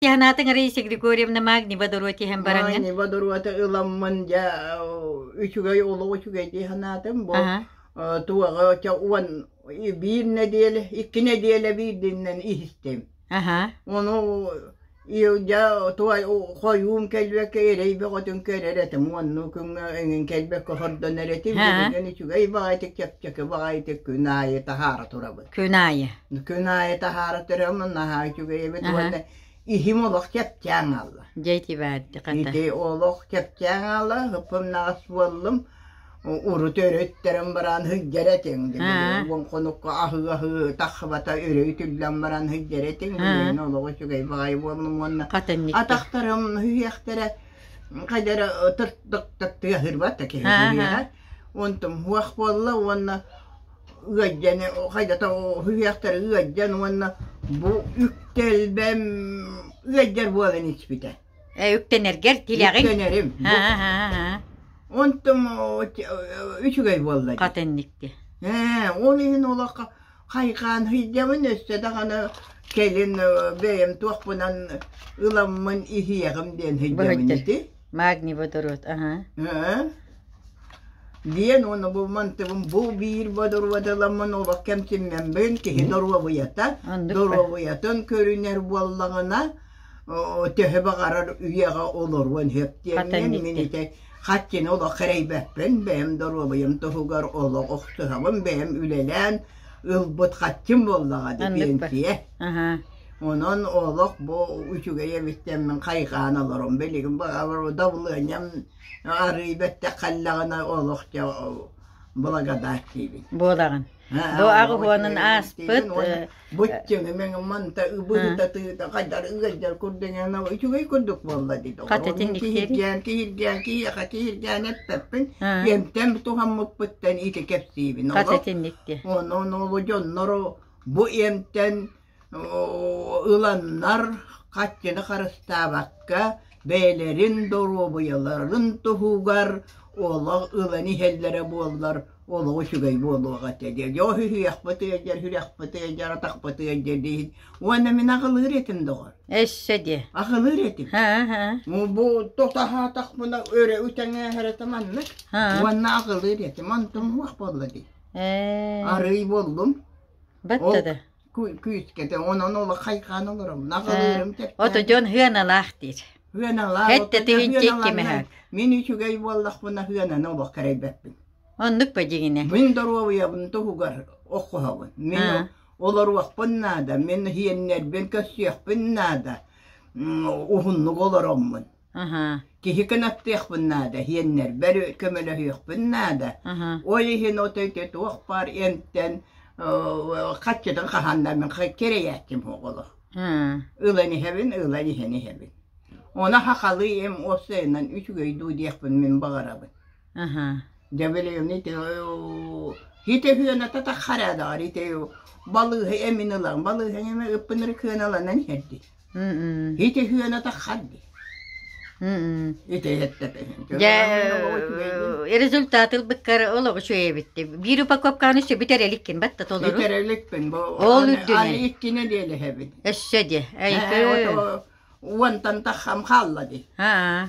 Анатаҥарыйса Григорьевна Магнева доруотиһен бараҥҥын Аанева доруота ыламмын дьа үчүгэй олох үчүгэй дии санаатым бу туоҕа ча уон биир нэдиэлэ икки нэдиэлэ биирдиннэн иһистим ону Илдя туай хойуум кэлбекке эрейбеҕотун көрөр этим онну күҥҥэ эҥин кэлбекке хордон эрэтим дьон үчүгэй баҕайытык чэпчэки баҕайытык күн аайы таһаара турабын Күн аайы. Күн аайы таһаара төрөммүн наһаа үчүгэйэбит уонна иһим олох чэпчээн аалла. Дьэйти баарди хата. Ити олох чэпчээн аалла, ыппыннаҕас буоллум. Урут өрүттэрин баран һыгдьэр этиҥ. Уон хонукка аһыы-аһыы таххабата өрө үтүллэн баран һыгдьэр этиҥ. Мен олох үчүгэй баҕай буоллум уонна атахтарым һүйэхтэрэ хайдара тыртык тыаһырбат да киһи онтум хуах буолла уонна ыалдьаны хайдата үһүйэхтэрэ ыалдьан уонна бу үктэлбэм ыалдьар буолан испитэ. Э, үктэнэргэр тилэҕин? Үктэнэрим. Онтум үчүгэй буолла. Хатынникти. Ээ, ол иһин олоххо хайхаан сыйдабын өссө даҕаны кэлин бэйэм туохпунан ыламмын иһиэҕим диэн сыйдабын ити. Магний водород, ага. диэн уонна бу мантыбым бу биир водородоламмын олох кэмтиммембин киһи доруобуйата доруобуйатын көрүнэр буоллаҕына төһө баҕарар үйэҕэ олоруон сөп диэммин мин ити хаттини олох кэрэйбэппин бэйэм доруобуйам туһугар олох охсуһабын бэйэм үлэлээн ылбыт хатчым буоллаҕа ди пенсия Онон олох бу үчүгэй эбиттэн мин хайҕаан олором. Билигин дабылыанньам арыы бэттэх халлаҕына олохчо благодартиибин. Буолаҕын. Бу аҕыһыанын ааспыт быччыҥымең манта ыбыытатыыта хайдар ыгайдар курдуҥана үчүгэй курдук буолла дии. Хатытын киһиргээн киһиргээн киһиэхэ киһиргээн эппэппин эмтэн туһаммыппыттан ити кэпсиибин. Хатытын никки. Онон олу дьонноро бу эмтэн ыланнар хаччыны харыстаабакка бэйэлэрин доруобуйаларын туһугар олох ылан иһэллэрэ буоллар олох үчүгэй буолуох этэ диэн дьэ үһүйэхпит ыалдьар үһүрүөхпүт ыалдьар атахпыт ыалдьар диһин уонна мин аҕылыыр этим доҕор эссе диэ аҕылыыр этим бу тутаһаатахпына өрө үтэҥээһэрэтэ маннык уонна аҕылыыр этим онтум уох болла дии арый боллум батта да күүскэтэ онон олоххайхаан олором наҕылыырым оту дьон хыаналаах диир мин үчүгэй буоллахпына хыананы олох кэрэйбэппин оннук ба дигине мин доруобуйабын туһугар оккуһабын мен олоруохпун наада мен хиэннэрбин көрсүөхпүн наада уһуннук олороммун Киһи кынаттыахпын наада, иһиэннэрбэр көмөлөһүөхпүн наада. Ол иһин от өйдө туох баар эмтэн хаччытын хаһаннар мин кирэйээччим оҕолор. Ылан иһэбин, ылан иһэн иһэбин. Оны хахалыйым оссайынан үчүгэй дуу диэхпин мин баҕарабын. Дьэ билигин ити ити хыаната таххараа даҕар ити балыыһы эмин ылан балыыһы эми ыппыныр кыаналанан иһэрди. Ити үһүөн атахан дии. Ити результат ылбыккар олоҕу үчүгэйбитти. Биир упаковканы сө бүтэр эликкин батта толору. Бүтэр эликпин бу. Ол үрдүнэн. Иккине диэлэһэбин. Өссө диэ. Уонтан таххам хаалла ди. Хаа.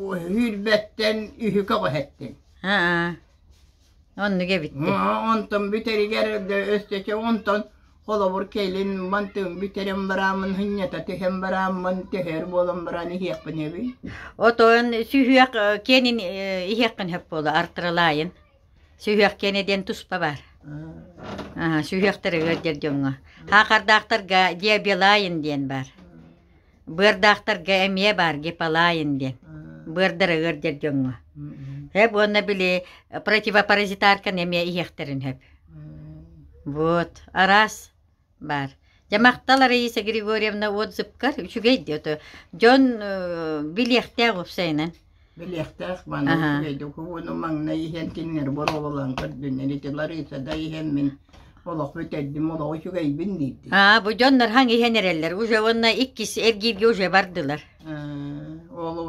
Үүрбэттен үһү көҕөһэттин. Хаа. Оннук эбитти. Онтон бүтэригэр өстөчө онтон холобур кэлин манты бүтерем бараамын хынньата түһэн барааммын төһөр буолан баран иһиэхпин эбий. Отон сүһүөх кенин иһиэхпин хөп буола артыралайын. Сүһүөх кене диэн туспа бар. Сүһүөхтэр өр дьер дьоҥҥо. Хаақардаахтарга диабелайын диэн бар. Быардаахтарга эмиэ баар гипалаин диэн. Быардарыгар дэр дьоҥҥо. Хэп уонна били противопаразитарканы эмиэ иһиэхтэрин хэп. Вот, арас бар. Дьэ махтал Раиса Григорьевна отзывкар үчүгэй диэтэ. Дьон билиэхтээх уопсайынан. Билиэхтээх маҥнай Аһа. үчүгэйдик уһууну маҥнай иһэн кинилэр боруобалаан көрдүннэр ити Лариса да иһэн мин олоху бүтэрдим олоҕу үчүгэйбин диирdi. Аа бу дьоннор хаҥ иһэн эрэллэр уже уонна иккис эргииргэ уже бардылар. Э, Ол